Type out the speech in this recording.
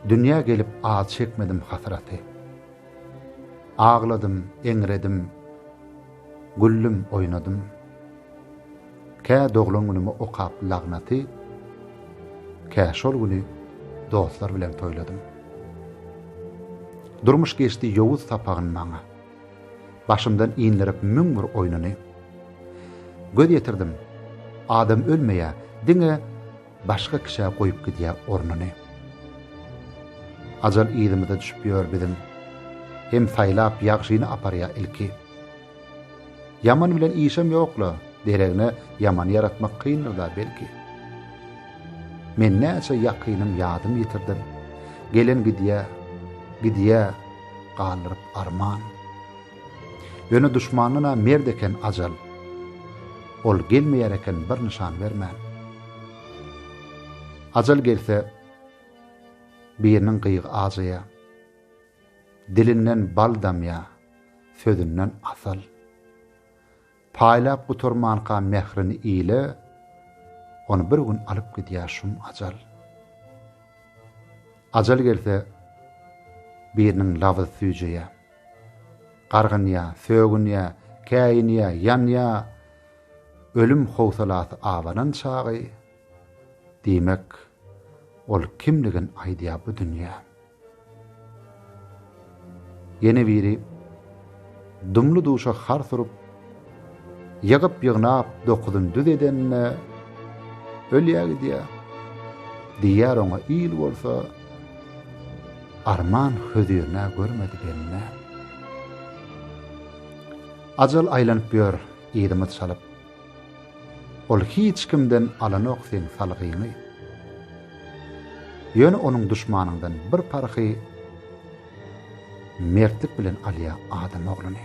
Dünýä gelip az çekmedim hasraty. Agladym, eňredim, güldüm, oýnadym. Kä doglan günümi okap lagnaty, kä şol güni dostlar bilen toýladym. Durmuş geçdi ýowuz sapagyn maňa. Başymdan inlirip müň bir oýnuny. Göz ýetirdim, adam ölmeýä, diňe başga kişä goýup gidýä ornuny. Ajal yzymyza düşüp ýör biziň, hem saýlap ýagşyny aparýa ilki. Ýaman bilen işem ýokla, deregine ýamany ýaratmak kyndyr-da belki. Men näçe ýakynym ýadym ýitirdim, gelen gidýä, gidýä galdyryp Arman. Ýöne duşmandan-a merd eken ajal. Ol gelmeýär eken bir nyşan bermän. Ajal gelse, biriniň gyýgy ajaýa. Dilinden bal damýa, sözünden asal. Paýlap gutarmanka mährini ile, Ony bir gün alyp gidýär şum ajal. Ajal gelse, biriniň labyz süýjeýä. Gargynýa, sögünýä, käýinýä, ýanýa, Ölüm howsalasy abanan çagy, Diýmek, ol kimligin aýdýar bu dünýä. Ýene biri dumly-duşa har surup, ýygyp-ýygnap dokuzyn düz edenine ölýär gidýär. Diýýär oňa il bolsa, arman hözirine görmedi benne. Ajal aýlanyp ýör yzymyz çalyp. Ol hiç kimden alanok seň salgyňy. Ýöne onuň duşmanyňdan bir parhy mertlik bilen alýar adam ogluny.